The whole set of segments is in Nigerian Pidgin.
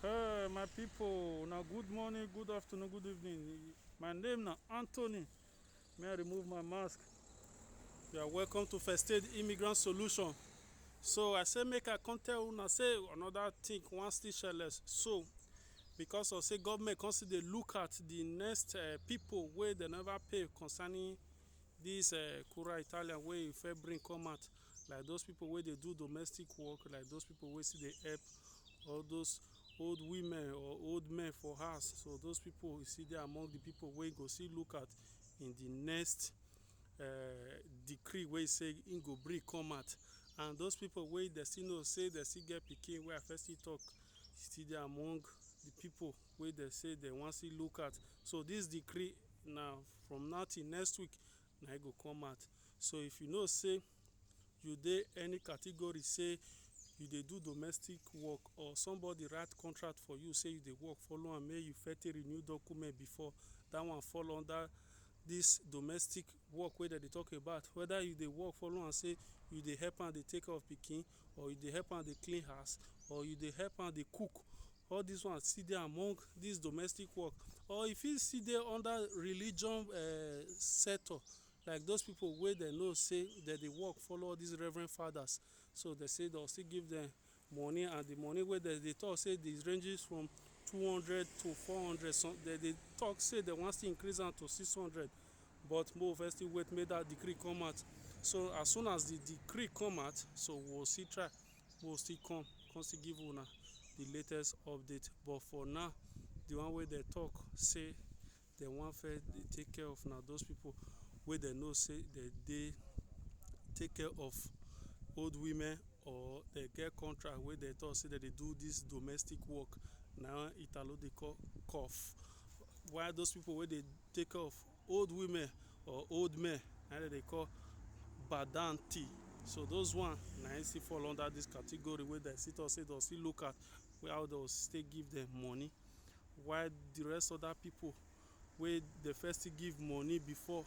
Hey, my people, now good morning, good afternoon, good evening. My name now Anthony. May I remove my mask? You are welcome to First Aid Immigrant Solution. So I say make I come tell una say another thing one still shireless. So because of say government come still dey look at the next uh, people wey dem never pay concerning this uh, Kura Italian wey e first bring come out. like those people wey dey do domestic work, like those people wey still dey help all those old women or old men for house. So those people e still dey among di people wey e go still look at in di next um decree wey e say im go bring come out. And those people wey dem still know say dem still get pikin wey I first still talk still dey among di people wey dem say dem wan still look at. So dis decree na from now till next week na im go come out. So if you know sey you dey any category sey you dey do domestic work or somebody write contract for you sey you dey work follow am make you first take renew document before, dat one fall under dis domestic work wey dem dey talk about. Whether you dey work follow am sey you dey help am dey take care of pikin or you dey help am dey clean house or you dey help am dey cook all dis one still dey among dis domestic work or e fit still dey under religion sector like those people wey dem know sey dem dey work follow all dis reverend fathers so dem sey dem go still give dem money and the money wey dem dey talk sey dey ranges from two hundred to four hundred some dem dey talk sey dem wan still increase am to six hundred But mo first still wait make that decree come out. So as soon as the decree come out, so we'll see try. We'll still come, come still give una the latest update. But for now, the one way they talk say they want fair they take care of now those people where they know say they they take care of old women or they get contract where they talk say that they do this domestic work. Now Italo they call cough. Why those people where they take off old women or old men na dem dey call badanti so those one na im still fall under this category wey dem still talk say dem still look at how dem still give them money while the rest other people wey dem first still give money before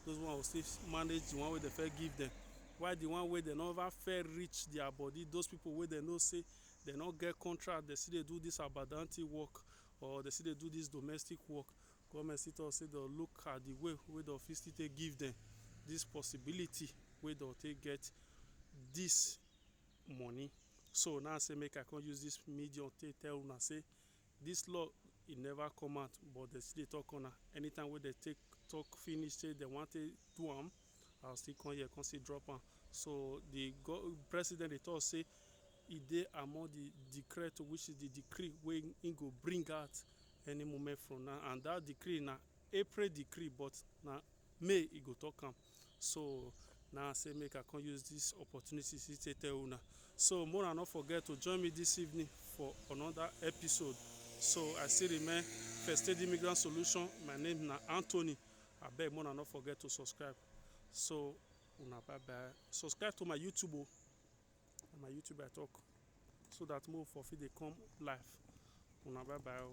those one go still manage the one wey dem first give them while the one wey dem never first reach their body those people wey dem know say dem no get contract dem still dey do this abadanti work or dem still dey do this domestic work Goment still tok say dem look at di way wey dem fit still take give dem dis possibility wey dem take get dis money. So na im I say make I come use dis medium take tell una say dis law e never come out but dem still dey tok on am. Anytime wey dem take tok finish say dem wan take do am, I go still come here come still drop am. So di President dey tok say e dey among di decreto which is di decree wey im go bring out any moment from now and that decree na april decree but na may e go talk am so na say make i come use this opportunity to take tell una so more not forget to join me this evening for another episode so i still remain first aid immigrant solution my name na anthony abeg more not forget to subscribe so una bye bye subscribe to my youtube o. na my YouTube I talk so that more for fit dey come live una bye bye o.